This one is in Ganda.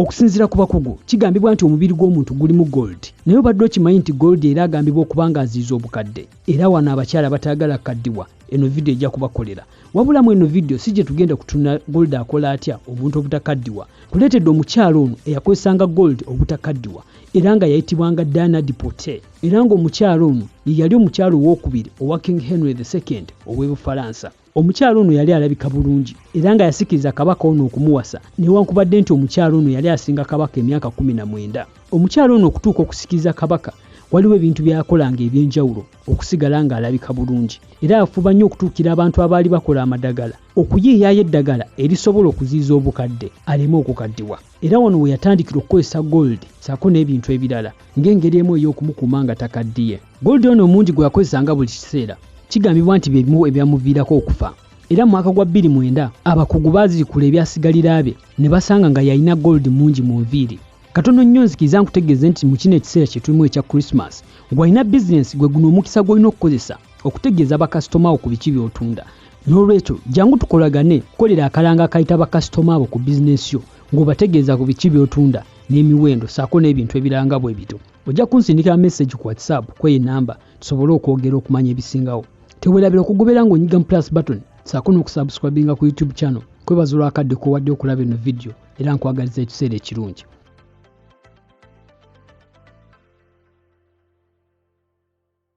Okusinzira ku bakugu, kigambibwa nti omubiri gw'omuntu gulimu gold, naye obadde okimanyi nti gold era agambibwa okuba nga aziiza obukadde, era wano abakyala bataagala kukaddiwa eno vidiyo ejja kubakolera. Wabula mu eno vidiyo si gye tugenda kutunula gold akola atya omuntu obutakaddiwa. Kuleetedde omukyala ono eyakozesanga gold obutakaddiwa era nga yayitibwanga Diana Dipote era ng'omukyala ono ye yali omukyala owookubiri owa King Henry the Second ow'e Bufalansa. Omukyala ono yali alabika bulungi era nga yasikiriza kabaka ono okumuwasa newankubadde nti omukyala ono yali asinga kabaka emyaka kumi na mwenda. Omukyala ono okutuuka okusikiriza kabaka waliwo ebintu byakolanga eby'enjawulo okusigala ng'alabika bulungi era afuba nnyo okutuukira abantu abaali bakola amadagala okuyiiyayo eddagala erisobola okuziiza obukadde aleme okukaddiwa era wano we yatandikira okukozesa gold saako n'ebintu ebirala ng'engeri emu ey'okumukuuma nga takaddiye. Gold ono omungi gwe yakozesa nga buli kiseera kigambibwa nti bye bimu ebyamuviirako okufa era mu mwaka gwa bbiri mwenda abakugu baazirikula ebyasigalira bye ne basanga nga yalina gold mungi mu nviiri katono nnyo nzikiriza nkutegeeze nti mu kino ekiseera kye tulimu ekya krisimas gwalina bizinensi gwe guno omukisa gw'olina okukozesa okutegeeza bakasitoma abo ku biki by'otunda n'olwekyo jangu tukolagane kukolera akalanga akayita bakasitoma abo ku bizinensi yo ng'obategeeza ku biki by'otunda n'emiwendo saako n'ebintu ebiranga bwe bito ojja kunsindikira message ku whatsapp kweyo enamba tusobole okwogera okumanya ebisingawo tewerabira okugobera ng'onyiga mu plus button saako n'okusubscribinga ku youtube channel kwebaza olwakadde kowadde okulaba eno vidiyo era nkwagaliza ekiseera ekirungi